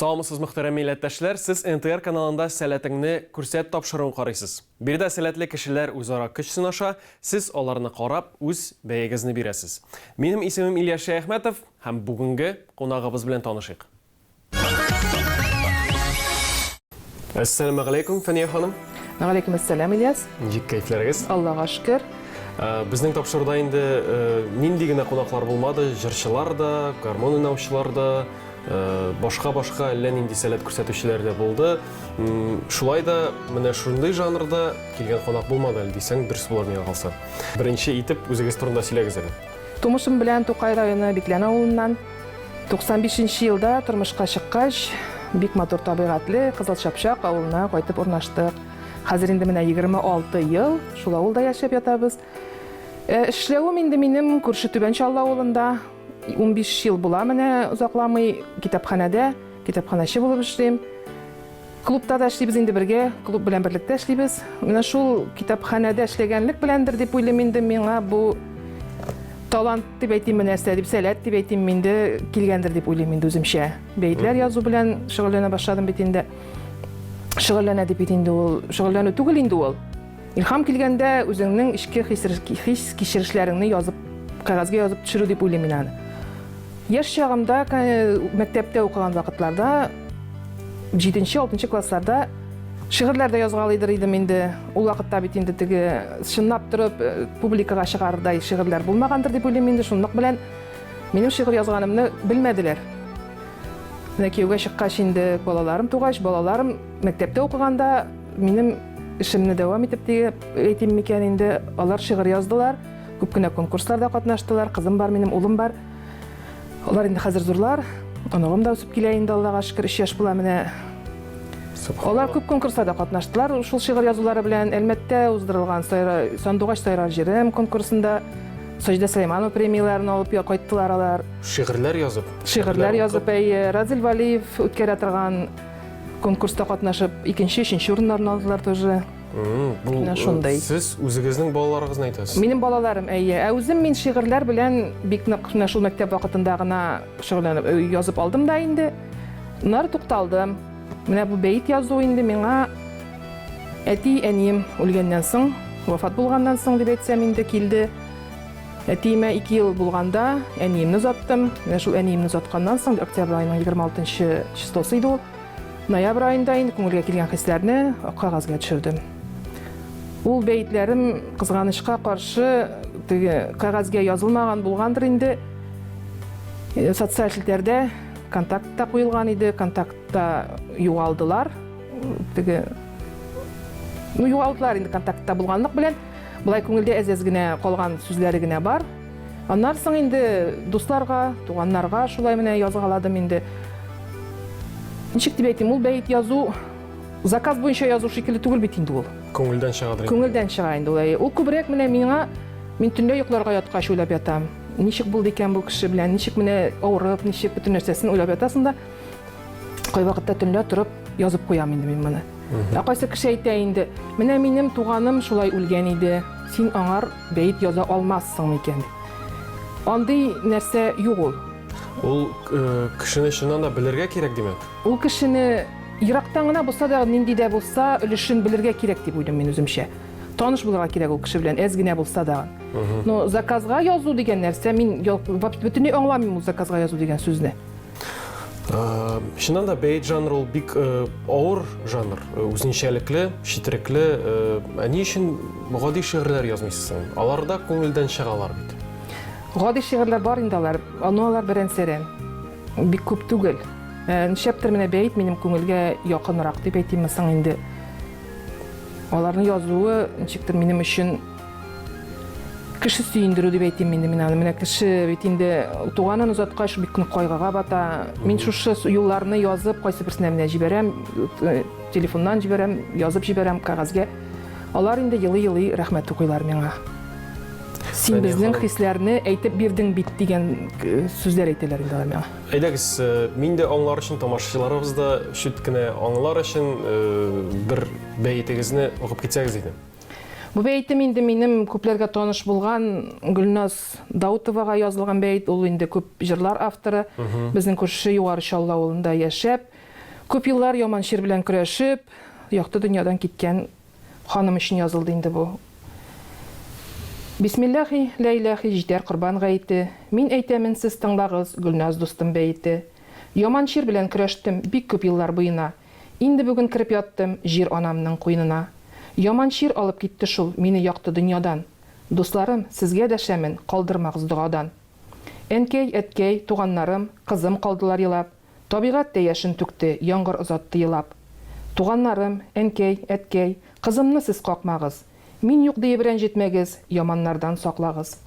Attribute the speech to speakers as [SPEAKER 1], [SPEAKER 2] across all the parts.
[SPEAKER 1] Саумысыз мөхтәрәм милләттәшләр, сез НТР каналында сәләтеңне күрсәт тапшыруын карыйсыз. Биредә сәләтле кешеләр үзара көч сынаша, сез аларны карап, үз бәягезне бирәсез. Минем исемем Илья Шәяхмәтов һәм бүгенге кунагыбыз белән танышыйк. Әссәламә галәйкүм, Фәния ханым. Галәйкүм әссәләм,
[SPEAKER 2] Ильяс. Ничек кәйфләрегез?
[SPEAKER 1] Аллага шөкер.
[SPEAKER 2] Э, безнең
[SPEAKER 1] тапшыруда инде э, нинди генә кунаклар булмады, җырчылар да, гармон уйнаучылар да, башка-башка э, әллә нинди сәләт күрсәтүчеләр дә булды. Шулай да менә шундый жанрда килгән кунак булмады әле дисәң, дөрес булыр миңа калса. Беренче итеп үзегез турында сөйләгез әле. Тумышым белән
[SPEAKER 2] Тукай районы Биклән авылыннан. 95 нче елда тормышка чыккач, бик матур табигатьле Кызыл Чапчак авылына кайтып урнаштык. Хәзер инде менә 26 ел шул авылда яшәп ятабыз. Э, эшләвем инде минем күрше Түбән Чаллы авылында 15 ел була менә озакламый китапханәдә, китапханәче булып эшлим. Клубта да эшлибез инде бергә, клуб белән берлектә эшлибез. Менә шул китапханәдә эшләгәнлек беләндер дип уйлыйм инде миңа бу талант дип әйтимме нәрсә дип сәләт дип әйтимме инде килгәндер дип уйлыйм инде үземчә. Бәетләр язу белән шөгыльләнә башладым бит инде. Шөгыльләнә дип бит инде ул, шөгыльләнү түгел инде ул. Илхам килгәндә үзеңнең эчке хис-кичерешләреңне язып, кәгазьгә язып төшерү дип уйлыйм мин аны. Яшь чагымда, мәктәптә укыган вакытларда, 7-6 классларда шигырьләр дә язгалыйдыр идем инде. Ул вакытта бит инде теге чынлап торып э, публикага чыгардай шигырьләр булмагандыр дип уйлыйм инде. Шунлык белән минем шигырь язганымны белмәделәр. Менә кияүгә чыккач инде балаларым тугач, балаларым мәктәптә укыганда минем Эшемне дәвам итеп диеп әйтим микән инде, алар шигырь яздылар, күп кенә конкурсларда катнаштылар, кызым бар, минем улым бар. Алар инде хәзер зурлар, оныгым да үсеп килә инде, Аллага шөкер, 3 яшь була менә. Алар күп конкурсларда катнаштылар, шул шигырь язулары белән Әлмәттә уздырылган Сандугач сайрар җирем конкурсында Саҗидә Сәйманова премияләрен алып кайттылар алар. Шигырьләр язып.
[SPEAKER 1] Шигырьләр язып, әйе.
[SPEAKER 2] Разил Валиев үткәрә торган Конкурста катнашып, икенче, өченче урыннарны алдылар тоже. Бу э, шундай. Сез үзегезнең балаларыгызны әйтәсез? Минем балаларым, әйе. Ә үзем мин шигырьләр белән бик нык менә шул мәктәп вакытында гына шөгыльләнеп э, язып алдым да инде. Нар тукталдым. Менә бу бәйт язу инде миңа әти әнием үлгәннән соң, вафат булганнан соң дип әйтсәм инде килде. Әтиемә ике ел булганда әниемне озаттым. Менә шул әниемне озатканнан соң, октябрь аеның 26 числосы иде ул. Ноябрь аенда инде күңелгә килгән хисләрне кагазьгә төшердем. Ул бәетләрем кызганычка каршы теге кагазьгә язылмаган булгандыр инде. Э, социаль челтәрдә контактта куелган иде, контактта югалдылар. Теге ну югалдылар инде контактта булганлык белән. Болай күңелдә әз-әз генә калган сүзләре генә бар. Аннан соң инде дусларга, туганнарга шулай менә язгаладым инде. Ничек дип әйтим, ул бәет язу заказ буенча язу шикелле түгел бит инде ул. Күңелдән чыгадыр. Күңелдән
[SPEAKER 1] чыга инде ул.
[SPEAKER 2] Ул күбрәк менә миңа мин төнлә йокларга яткач уйлап ятам. Ничек булды икән бу кеше белән, ничек менә авырып, ничек бөтен нәрсәсен уйлап ятасың да. Кайвакытта төнлә торып язып куям инде мин моны. Ә кайсы кеше әйтә инде, менә минем туганым шулай үлгән иде, син аңар бәет яза алмассың микән? Андый нәрсә юк ул. Ул
[SPEAKER 1] э, кешене чыннан да белергә кирәк, димәк. Ул кешене
[SPEAKER 2] ерактан гына булса да, нинди дә булса, өлешен белергә кирәк дип уйлыйм мин үземчә. Таныш булырга кирәк ул кеше белән, әз генә булса да. Но заказга язу дигән нәрсә, мин бөтенләй аңламыйм ул заказга язу дигән сүзне.
[SPEAKER 1] Шынан да бейт жанр ол бик ауыр жанр, үзенчәлекле, шитрекле. Ә ни өчен гади шигырьләр язмыйсың? Аларда күңелдән чыгалар бит. Гади
[SPEAKER 2] шигырьләр бар инде алар, аны алар беренчерен. Бик күп түгел. Нишләптер менә бәйт минем күңелгә якынрак дип әйтимме соң инде. Аларны язуы ничектер минем өчен Кеше сөендерү дип әйтим инде мин аны. Менә кеше бит инде туганын озаткач бик нык кайгыга бата. Мин шушы юлларны язып, кайсы берсенә менә җибәрәм, э, телефоннан җибәрәм, язып җибәрәм кәгазьгә. Алар инде елый-елый рәхмәт укыйлар миңа. Син безнең хисләрне әйтеп бирдең бит дигән э, сүзләр әйтәләр инде алар миңа. Әйдәгез, э,
[SPEAKER 1] мин дә аңлар өчен, тамашачыларыбыз да чүт кенә аңлар өчен бер бәетегезне укып китсәгез иде. Бу бәетем
[SPEAKER 2] инде минем күпләргә таныш булган Гөлназ Даутовага язылган бәет. Ул инде күп җырлар авторы. Безнең күрше Югары Чаллы авылында яшәп, күп еллар яман чир белән көрәшеп, якты дөньядан киткән ханым өчен язылды инде бу. Бисмиллахи лә иләхи җитәр корбан гаете, Мин әйтәмен, сез тыңлагыз, Гөлназ дустым бәете. Яман чир белән көрәштем бик күп еллар буена, Инде бүген кереп яттым Җир анамның куенына. Яман чир алып китте шул Мине якты дөньядан. Дусларым, сезгә дәшәмен, Калдырмагыз догадан. Әнкәй, әткәй, туганнарым, Кызым калдылар елап. Табигать тә яшен түкте, Яңгыр озатты елап. Туганнарым, әнкәй, әткәй, Кызымны сез какмагыз. Мин юк диеп рәнҗетмәгез, Яманнардан саклагыз.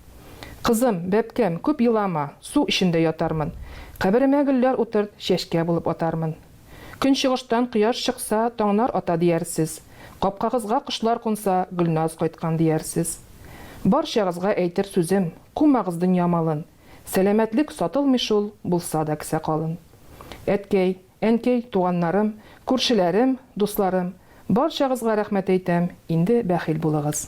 [SPEAKER 2] Кызым, бәбкәм, күп елама, Су эчендә ятармын. Каберемә гөлләр утырт, Чәчкә булып атармын. Көнчыгыштан кояш чыкса, таңнар ата диярсез. Капкагызга кошлар кунса, Гөлназ кайткан диярсез. Барчагызга әйтер сүзем, кумагыз дөнья малын. Сәламәтлек сатылмый шул, булса да кесә калын. Әткәй, әнкәй, туганнарым, күршеләрем, дусларым, барчагызга рәхмәт әйтәм, инде бәхил булыгыз.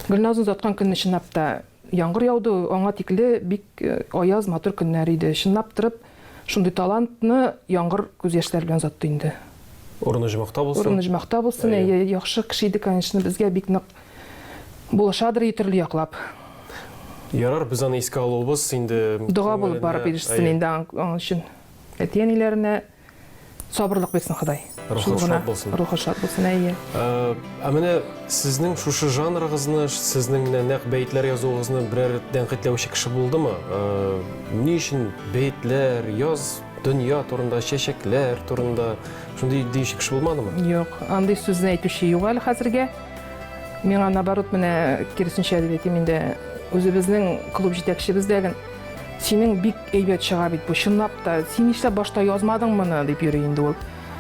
[SPEAKER 2] Гөлназны озаткан көнне чынлап та Яңгыр яуды, аңа тикле бик аяз, матур көннәр иде. Чынлап торып, шундый талантны яңгыр күз яшьләре белән озатты инде. Урын оҗмахта
[SPEAKER 1] булсын. Урын оҗмахта булсын. Әйе. Әйе,
[SPEAKER 2] яхшы кеше иде, конечно, безгә бик нык булышадыр и төрле яклап.
[SPEAKER 1] Ярар, без аны искә алуыбыз инде. Дога булып барып
[SPEAKER 2] ирешсен инде аның өчен әти-әниләренә. Сабырлык бирсен Ходай. Рухы шат булсын.
[SPEAKER 1] Рухы шат булсын, әйе. Э,
[SPEAKER 2] ә менә
[SPEAKER 1] сезнең шушы жанрыгызны, сезнең менә нәкъ бәетләр язуыгызны берәр тәнкыйтьләүче кеше булдымы? Э, ни өчен бәетләр, яз дөнья турында, чәчәкләр турында шундый диюче кеше булмадымы? Юк, андый сүзне
[SPEAKER 2] әйтүче юк әле хәзергә. Миңа наоборот менә киресенчә дип әйтим инде. Үзебезнең клуб җитәкчебез дә синең бик Әйбәт чыга бит бу, чынлап та. Син нишләп башта язмадың моны, дип йөри инде ул.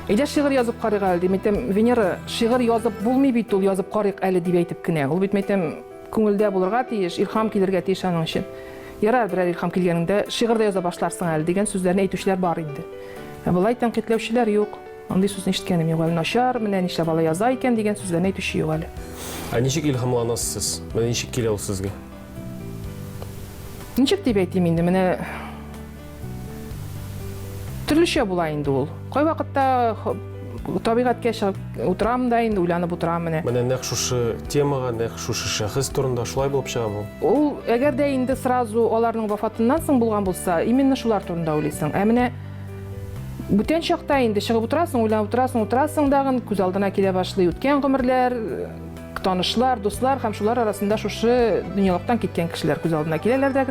[SPEAKER 2] Әйдә шигырь язып карыйк әле, дим әйтәм, Венера, шигырь язып булмый бит ул, язып карыйк әле, дип әйтеп кенә. Ул бит мәйтәм, күңелдә булырга тиеш, илһам килергә тиеш аның өчен. Ярар, берәр илһам килгәнендә шигырь дә яза башларсың әле, дигән сүзләрне әйтүчеләр бар инде. Ә болай тәнкыйтьләүчеләр юк. Андый сүзне ишеткәнем юк әле, начар, менә нишләп алай яза икән, дигән сүзләрне әйтүче юк әле. Ә ничек
[SPEAKER 1] илһамланасыз сез? Менә ничек килә ул сезгә?
[SPEAKER 2] Ничек дип әйтим инде, менә төрлечә була инде ул. Кайвакытта табигатькә чыгып утырам да инде уйланып утырам менә. Менә нәкъ шушы
[SPEAKER 1] темага, нәкъ шушы шәхес турында шулай булып чыга бу. Ул әгәр дә
[SPEAKER 2] инде сразу аларның вафатыннан соң булган булса, именно шулар турында уйлыйсың. Ә менә бүтән чакта инде чыгып утырасың, уйланып утырасың, утырасың дагын, күз алдына килә башлый үткән гомерләр, Танышлар, дуслар һәм шулар арасында шушы дөньялыктан киткән кешеләр күз алдына киләләр дә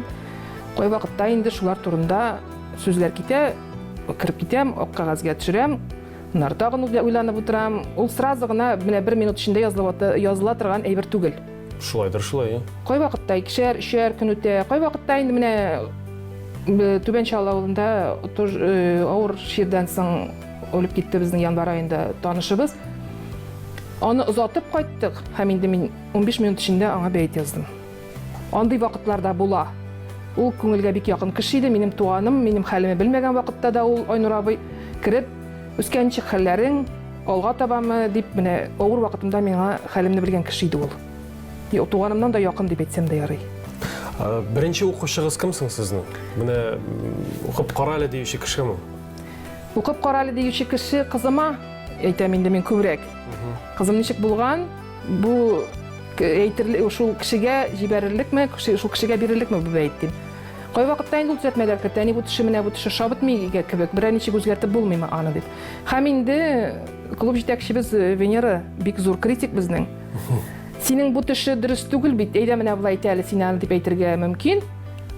[SPEAKER 2] кайвакытта инде шулар турында сүзләр китә, кереп китәм, ак кәгазьгә төшерәм, Нар тагын уйланып утырам. Ул сразу гына менә бер минут эчендә языла торган әйбер түгел. Шулайдыр шулай.
[SPEAKER 1] Кай вакытта икешәр,
[SPEAKER 2] өчәр көн үтә, кай вакытта инде менә Түбән Чаллы авылында авыр чирдән соң Өлеп китте безнең январь аенда танышыбыз. Аны озатып кайттык һәм инде мин 15 минут эчендә аңа бәет яздым. Андый вакытларда була. Ул күңелгә бик якын кеше иде, минем туганым, минем хәлемне белмәгән вакытта да ул Айнур абый кереп, үскән ничек хәлләрең, алга табамы дип менә авыр вакытымда миңа хәлемне белгән кеше иде ул. Юк, туганымнан да якын дип әйтсәм дә ярый. Беренче
[SPEAKER 1] укучыгыз кем соң сезнең? Менә укып кара әле диюче кешеме? Укып
[SPEAKER 2] кара әле диюче кеше кызыма әйтәм инде мин күбрәк. Кызым ничек булган? Бу әйтерлек шул кешегә җибәрерлекме, шул кешегә бирерлекме бу бәйт дип. Кай вакытта инде ул төзәтмәләр кертә, әни бу төше менә бу төше шабытмый кебек, берәр ничек үзгәртеп булмыймы аны дип. Һәм инде клуб җитәкчебез э, Венера бик зур критик безнең. Синең бу төше дөрес түгел бит, әйдә менә болай итә әле син аны дип әйтергә мөмкин.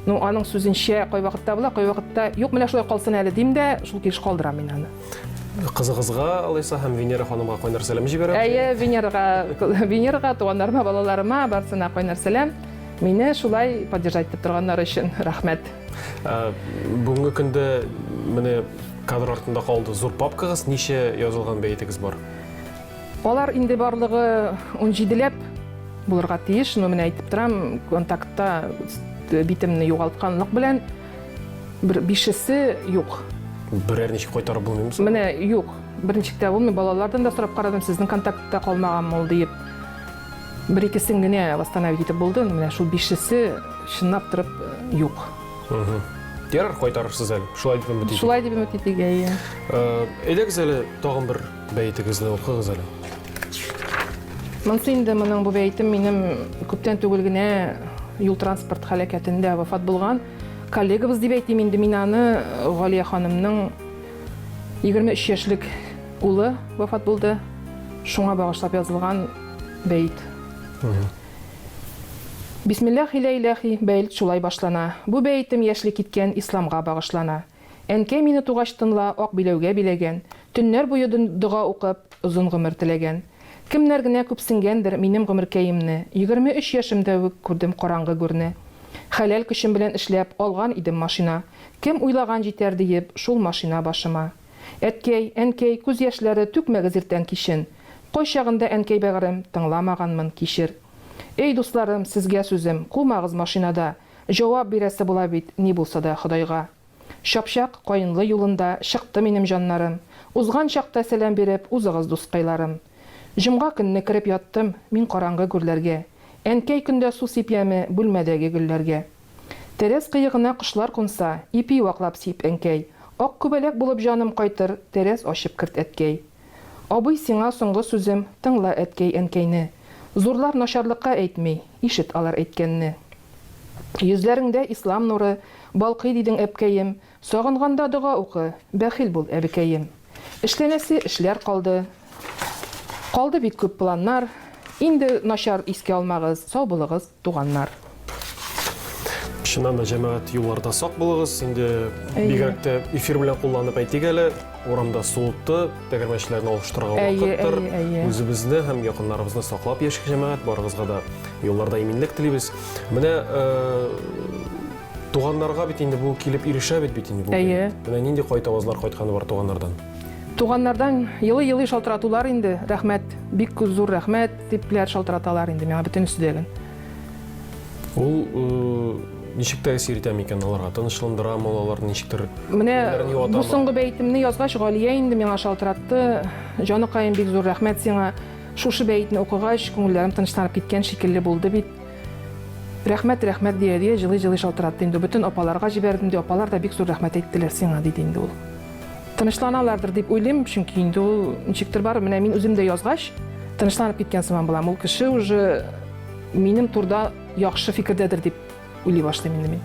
[SPEAKER 2] Ну, аның сүзенчә, кайвакытта була, кайвакытта юк, менә шулай калсын әле дим дә, шул килеш калдырам мин аны. Кызыгызга
[SPEAKER 1] алайса һәм Венера ханымга кайнар сәлам җибәрәм. Әйе, Венерага,
[SPEAKER 2] Венерага, туганнарыма, балаларыма, барсына кайнар сәлам. Мине шулай поддержать итеп торганнар өчен рәхмәт. Ә,
[SPEAKER 1] бүгенге көндә менә кадр артында калды зур папкагыз, ничә язылган бәйтегез бар? Алар
[SPEAKER 2] инде барлыгы унҗиделәп булырга тиеш, но менә әйтеп торам, контактта битемне югалтканлык белән бер бишесе юк. Берәр ничек
[SPEAKER 1] кайтарып булмыймы? Менә юк.
[SPEAKER 2] Берничек тә булмый. Балалардан да сорап карадым, сезнең контактта калмаган мул диеп. Бер икесен генә восстановить итеп булды, менә шул бишесе чынлап торып юк. Ярар,
[SPEAKER 1] кайтарырсыз әле. Шулай дип өмет итик. Шулай дип өмет итик, әйе.
[SPEAKER 2] Әйдәгез
[SPEAKER 1] әле тагын бер Бәетегезне укыгыз әле.
[SPEAKER 2] Монсы инде моның бу бәйтем минем күптән түгел генә юл транспорт халәкәтендә вафат булган коллегабыз дип әйтим инде мин аны Галия ханымның 23 яшьлек улы вафат булды. Шуңа багышлап язылган бәйт. Бисмиллахи ләйләхи бәйт шулай башлана. Бу бәйтем яшьли киткән исламга багышлана. Әнкәй мине тугач тынла ак биләүгә биләгән, Төннәр буе дога укып, озын гомер теләгән. Кемнәр генә күпсенгәндер минем гомеркәемне, Егерме өч яшемдә үк күрдем караңгы гүрне. Хәләл көчем белән эшләп, алган идем машина, Кем уйлаган җитәр диеп шул машина башыма. Әткәй, әнкәй, күз яшьләре түкмәгез иртән кичен, Кайчагында әнкәй бәгырем тыңламаганмын, кичер. Эй, дусларым, сезгә сүзем, кумагыз машинада, Җавап бирәсе була бит ни булса да Ходайга. Чапчак Каенлы юлында чыкты минем җаннарым. Узган чакта сәлам биреп узыгыз дускайларым. Җомга көнне кереп яттым мин караңгы гүрләргә. Әнкәй көндә су сипяме бүлмәдәге гөлләргә. Тәрәз кыегына кошлар кунса, ипи ваклап сип, әнкәй. Ак күбәләк булып җаным кайтыр, тәрәз ачып керт, әткәй. Абый, сиңа соңгы сүзем, тыңла әткәй-әнкәйне. Зурлар начарлыкка әйтми, ишет алар әйткәнне. Йөзләреңдә ислам нуры балкый дидең әпкәем, сагынганда дога укы, бәхил бул әбекәем. Эшләнәсе эшләр калды, калды бит күп планнар, инде начар искә алмагыз, сау булыгыз. туганнар.
[SPEAKER 1] Чыннан да җәмәгать юлларда сак булыгыз. Инде бигрәк тә эфир белән кулланып әйтик әле, урамда суытты, тәгәрмәчләрне алыштырырга вакыттыр. Үзебезне һәм якыннарыбызны саклап яшик җәмәгать, барыгызга да юлларда иминлек телибез. Менә э, туганнарга бит инде бу килеп ирешә бит бит инде бу. Әйе. Менә нинди кайт авазлар кайтканы бар туганнардан. Туганнардан
[SPEAKER 2] елый-елый шалтыратулар инде. Рәхмәт, бик зур рәхмәт. Типләр шалтыраталар инде миңа бөтен өстәлен. Ул э,
[SPEAKER 1] ничек тәэсир итә микән аларга? Тынычландырамы алар ничектер? Менә бу
[SPEAKER 2] соңгы бәйтемне язгач, Галия инде миңа шалтыратты. Җаныкаем, бик зур рәхмәт сиңа. Шушы бәйтне укыгач, күңелләрем тынычланып киткән шикелле булды бит. Рәхмәт, рәхмәт дия дия җылы-җылы шалтыратты инде. Бөтен апаларга җибәрдем ди, апалар да бик зур рәхмәт әйттеләр сиңа, диде инде ул. Тынычланалардыр дип уйлыйм, чөнки инде ул ничектер бар, менә мин үзем дә язгач, тынычланып киткән сыман булам. Ул кеше уже минем турда яхшы фикердәдер дип уйлый башлыйм инде мин.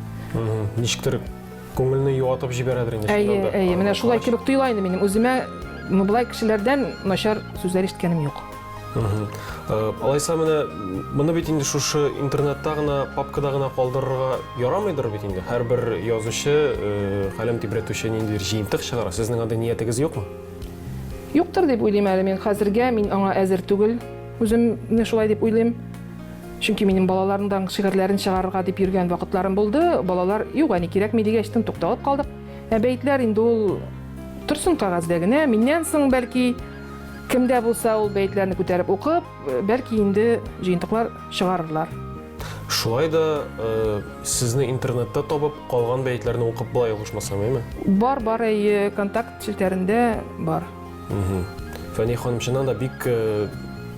[SPEAKER 2] Ничектер
[SPEAKER 1] күңелне юатып җибәрәдер инде. Әйе, әйе, менә шулай
[SPEAKER 2] кебек тоела инде минем үземә. Ну, былай кешеләрдән начар сүзләр ишеткәнем юк.
[SPEAKER 1] Алайса менә моны бит инде шушы интернетта гына, папкада гына калдырырга ярамыйдыр бит инде. Һәрбер язучы, каләм э, тибрәтүче ниндидер җыентык чыгара. Сезнең андый ниятегез юкмы? Юктыр
[SPEAKER 2] дип уйлыйм әле мин хәзергә, мин аңа әзер түгел. Үземне шулай дип уйлыйм. Чөнки минем балаларымның шигырьләрен чыгарырга дип йөргән вакытларым булды. Балалар, юк, әни кирәкми дигәч, тын тукталып калдык. Ә бәетләр инде ул торсын кәгазьдә генә, миннән соң бәлки Кем дә булса ул бәетләрне күтәреп укып, бәлки инде җыентыклар чыгарырлар. Шулай
[SPEAKER 1] да э, сезне интернетта табып, калган бәетләрне укып була ялгышмасам, әйме? Бар, бар, әйе,
[SPEAKER 2] контакт челтәрендә бар.
[SPEAKER 1] Фәни ханым, чыннан да бик э,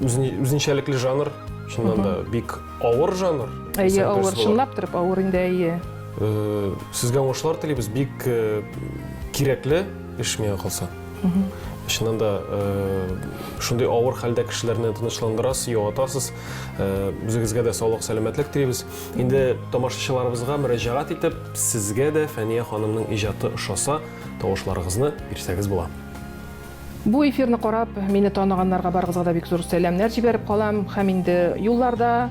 [SPEAKER 1] үзенчәлекле жанр, чыннан да бик авыр жанр. Әйе, авыр, чынлап
[SPEAKER 2] торып авыр инде, әйе. Э, сезгә
[SPEAKER 1] уңышлар телибез, бик э, кирәкле эш миңа калса. чыннан да шундый авыр хәлдә кешеләрне тынычландырасыз, юатасыз. Үзегезгә дә саулык, сәламәтлек телибез. Инде тамашачыларыбызга мөрәҗәгать итеп, сезгә дә Фәния ханымның иҗаты ошаса, тавышларыгызны бирсәгез була. Бу
[SPEAKER 2] эфирны карап, мине таныганнарга барыгызга да бик зур сәламнәр җибәреп калам һәм инде юлларда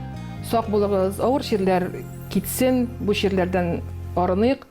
[SPEAKER 2] сак булыгыз, авыр чирләр китсен, бу чирләрдән арыныйк.